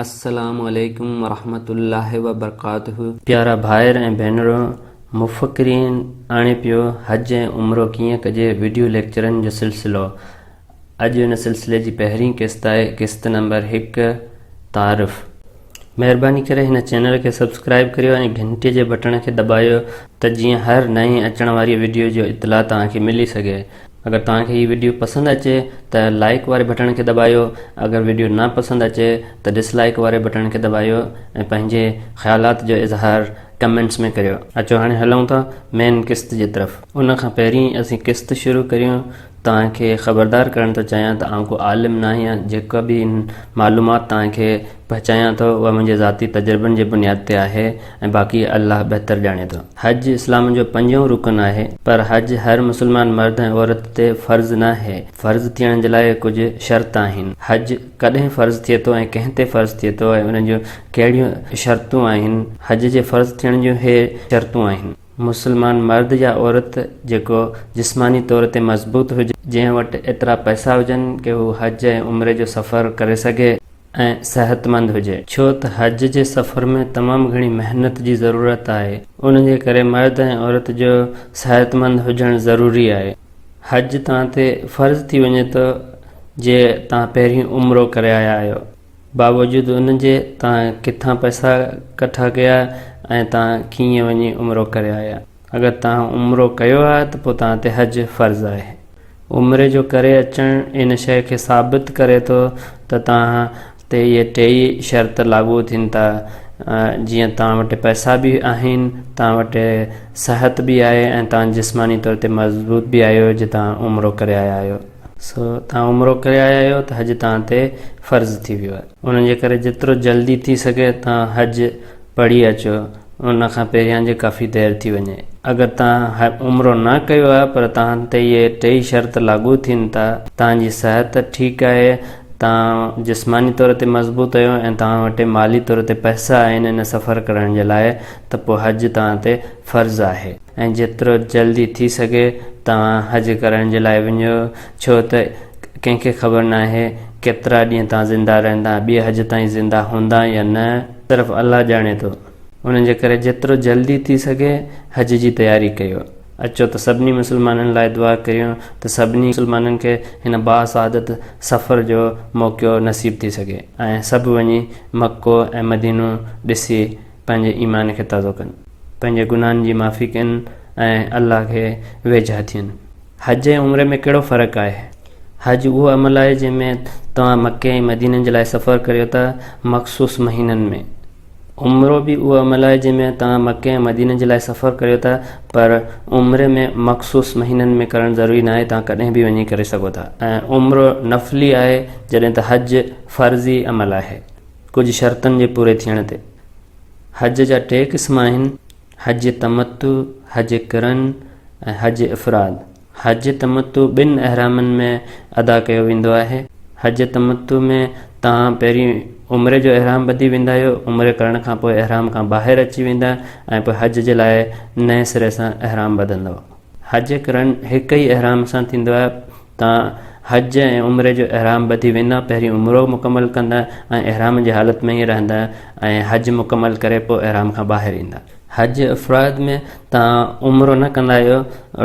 السلام عليڪم ورحمة الله وبرڪاته. پيارا ڀائر ۽ ڀينرو مفڪرين آڻي پيو حج ۽ عمرو ڪيئن ڪجي وڊيو ليڪچرن جو سلسلو اڄ ان سلسلي جي پهرين قسط آهي قسط نمبر هڪ تعارف. مهرباني ڪري هن چينل کي سبسڪرائب ڪريو ۽ گهنٽي جي بٽڻ کي دٻايو ته جيئن هر نئين اچڻ واري وڊيو جو اطلاع توهان کي ملي سگهي اگر توهان کي هي وڊيو پسند اچي ته لائيڪ واري بٽڻ کي دٻايو اگر وڊيو نا پسند اچي ته ڊس لائيڪ واري بٽڻ کي دٻايو ۽ پنهنجي خيالات جو اظهار ڪمينٽس ۾ ڪريو. اچو هاڻي هلون ٿا مين قسط جي طرف. ان کان پهرين اسين قسط شروع ڪريون توهان کي خبردار ڪرڻ ٿو چاهيان ته آئون ڪو عالم ناهيان جيڪا به معلومات توهان کي پهچايان ٿو اها منهنجي ذاتي تجربن جي بنياد تي آهي ۽ باقي الله بهتر ڄاڻي ٿو. حج اسلام جو پنجون رڪن آهي پر حج هر مسلمان مرد ۽ عورت تي فرض ناهي، فرض ٿيڻ جي لاء ڪجهه شرط آهن، حج ڪڏهن فرض ٿئي ٿو ۽ ڪنهن تي فرض ٿئي ٿو ۽ ان جون ڪهڙيون شرطون آهن، حج جي فرض ٿيڻ جون هي شرطون آهن. مسلمان مرد يا عورت جيڪو جسماني طور تي مضبوط هجي. جنهن وٽ ايترا پئسا هجن ڪي هو حج ۽ عمري جو سفر ڪري سگهي. ۽ صحتمند هجي ڇو ته حج جي سفر ۾ تمام گهڻي محنت جي ضرورت آهي ان جي ڪري مرد ۽ عورت جو صحتمند هجڻ ضروري آهي حج توهان تي فرض ٿي وڃي ٿو جي توهان پهرين عمرو ڪري آيا آهيو باوجود ان جي توهان ڪٿان پئسا ڪٺا ڪيا ۽ توهان ڪيئن وڃي عمرو ڪري آيا اگر توهان عمرو ڪيو آهي ته پوء توهان تي حج فرض آهي. عمري جو ڪري اچڻ ان شيء کي ثابت ڪري ٿو ته توهان تي اهي ٽيئي شرط لاڳو ٿين ٿا، جيئن توهان وٽ پئسا به آهن، توهان وٽ صحت به آهي ۽ توهان جسماني طور تي مضبوط به آهيو جو توهان عمرو ڪري آيا آهيو. سو توهان عمرو ڪري آيا آهيو ته حج توهان تي فرض ٿي ويو آهي. ان جي ڪري جيترو جلدي ٿي سگهي توهان حج پڙهي اچو ان کان پهريان جي ڪافي دير ٿي وڃي. اگر توهان عمرو نه ڪيو آهي پر توهان تي اهي ٽئي شرط لاڳو ٿين ٿا، توهان جي صحت ٺيڪ آهي، توهان جسماني طور تي مضبوط اهيو ۽ توهان وٽ مالي طور تي پئسا آهن ان سفر ڪرڻ جي لاء ته پوء حج توهان تي فرض آهي. ۽ جيترو جلدي ٿي سگهي توهان حج ڪرڻ جي لاء وڃو ڇو ته ڪنهن کي خبر ناهي ڪيترا ڏينهن توهان زنده رهندا ۽ ٻئي حج تائين زنده هوندا يا نه صرف الله ڄاڻي ٿو ان جي ڪري جيترو جلدي ٿي سگهي حج جي تياري ڪيو اچو ته سڀني مسلمانن لاء دعا ڪريون ته سڀني مسلمانن کي هن باسعادت سفر جو موقعو نصيب ٿي سگهي ۽ سڀ وڃي مڪو ۽ مدينو ڏسي پنهنجي ايمان کي تازو ڪن، پنهنجي گناهن جي معافي ڪن ۽ الله کي ويجها ٿين. حج ۽ عمري ۾ ڪهڙو فرق آهي؟ حج اهو عمل آهي جنهن ۾ توهان مڪي ۽ مديني جي لاء سفر ڪريو ٿا مخصوص مهينن ۾. عمرو به اهو عمل آهي جنهن ۾ توهان مڪي ۽ مديني جي لاء سفر ڪريو ٿا پر عمري ۾ مخصوص مهينن ۾ ڪرڻ ضروري ناهي توهان ڪڏهن به وڃي ڪري سگهو ٿا ۽ عمرو نفلي آهي جڏهن ته حج فرضي عمل آهي. ڪجهه شرطن جي پوري ٿيڻ تي حج جا ٽي قسم آهن، حج تمتع، حج قرن ۽ حج افراد. حج تمتع ٻن احرامن ۾ ادا ڪيو ويندو آهي. حج تمتع ۾ توهان پهرين عمري جو احرام ٻڌي ويندا آهيو، عمري ڪرڻ کان پوء احرام کان ٻاهر اچي ويندا ۽ پوء حج جي لاء نئين سري سان احرام ٻڌندؤ. حج قرن هڪ ئي احرام سان ٿيندو آهي. تان حج ۽ عمري جو احرام ٻڌي ويندا، پهرين عمرو مڪمل ڪندا ۽ احرام جي حالت ۾ ئي رهندا ۽ حج مڪمل ڪري پوء احرام کان ٻاهر ايندا. حج افراد ۾ تان عمرو نه ڪندا آهيو،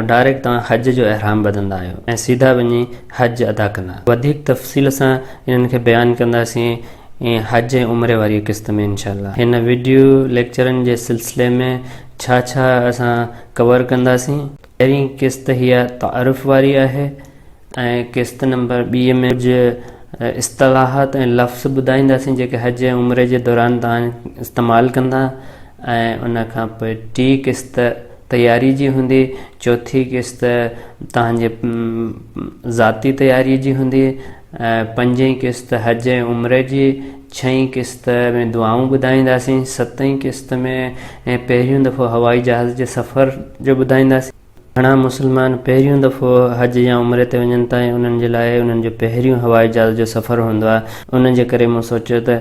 ڊائريڪٽ تان حج جو احرام ٻڌندا آهيو ۽ سيڌا وڃي حج ادا ڪندا. وڌيڪ تفصيل سان انهن کي بيان ڪنداسين حج ۽ عمري واريء قسط ۾ انشاء الله. هن وڊيو ليڪچرن جي سلسلي ۾ ڇا ڇا اسان ڪور ڪنداسين؟ پهرين قسط هيء تعارف واري آهي ۽ قسط نمبر ٻي ۾ ڪجهه اصطلاحات ۽ لفظ ٻڌائينداسين جيڪي حج ۽ عمري جي دوران توهان استعمال ڪندا ۽ ان کان پوء ٽي قسط تياري جي هوندي چوٿي قسط توهان جي ذاتي تياري جي هوندي ۽ پنجين قسط حج ۽ عمري جي ڇهين قسط ۾ دعائون ٻڌائينداسين، ستين قسط ۾ پهريون دفعو هوائي جهاز جي سفر جو ٻڌائينداسين، گهڻا مسلمان پهريون دفعو حج يا عمري تي وڃن ٿا ۽ انهن جي لاء انهن جو پهريون هوائي جهاز جو سفر هوندو آهي، ان جي ڪري مون سوچيو ته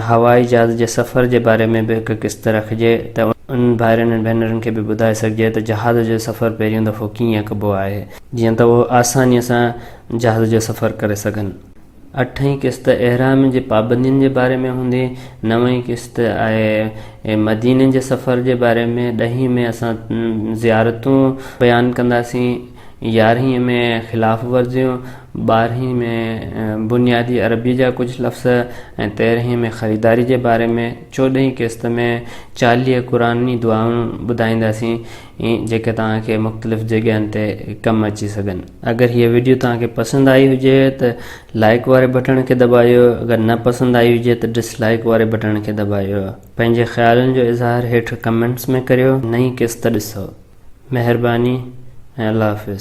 هوائي جهاز جي سفر جي باري ۾ به هڪ قسط رکجي ته انهن ڀائرن ۽ ڀينرن کي به ٻڌائي سگهجي ته جهاز جو سفر پهريون دفعو ڪيئن ڪبو آهي، جيئن ته اهو آسانيء سان جهاز جو سفر ڪري سگهن. اٺين قسط احرام جي پابندين جي باري ۾ هوندي، نوين قسط آهي مديني جي سفر جي باري ۾، ڏهين ۾ اسان زيارتون بيان ڪنداسين، يارهين ۾ خلاف ورزيون، ٻارهين ۾ بنيادي عربي جا ڪجهه لفظ ۽ تيرهين ۾ خريداري جي باري ۾، چوڏهين قسط ۾ چاليهه قرآني دعائون ٻڌائينداسين. ۽ جيڪي توهان کي مختلف جڳهين تي ڪم اچي سگهن. اگر هيء وڊيو توهان کي پسند آئي هجي ته لائيڪ واري بٽڻ کي دٻايو اگر نه پسند آئي هجي ته ڊس لائيڪ واري بٽڻ کي دٻايو پنهنجي خيالن جو اظهار هيٺ ڪمينٽس ۾ ڪريو نئين قسط ڏسو مهرباني ۽ الله حافظ.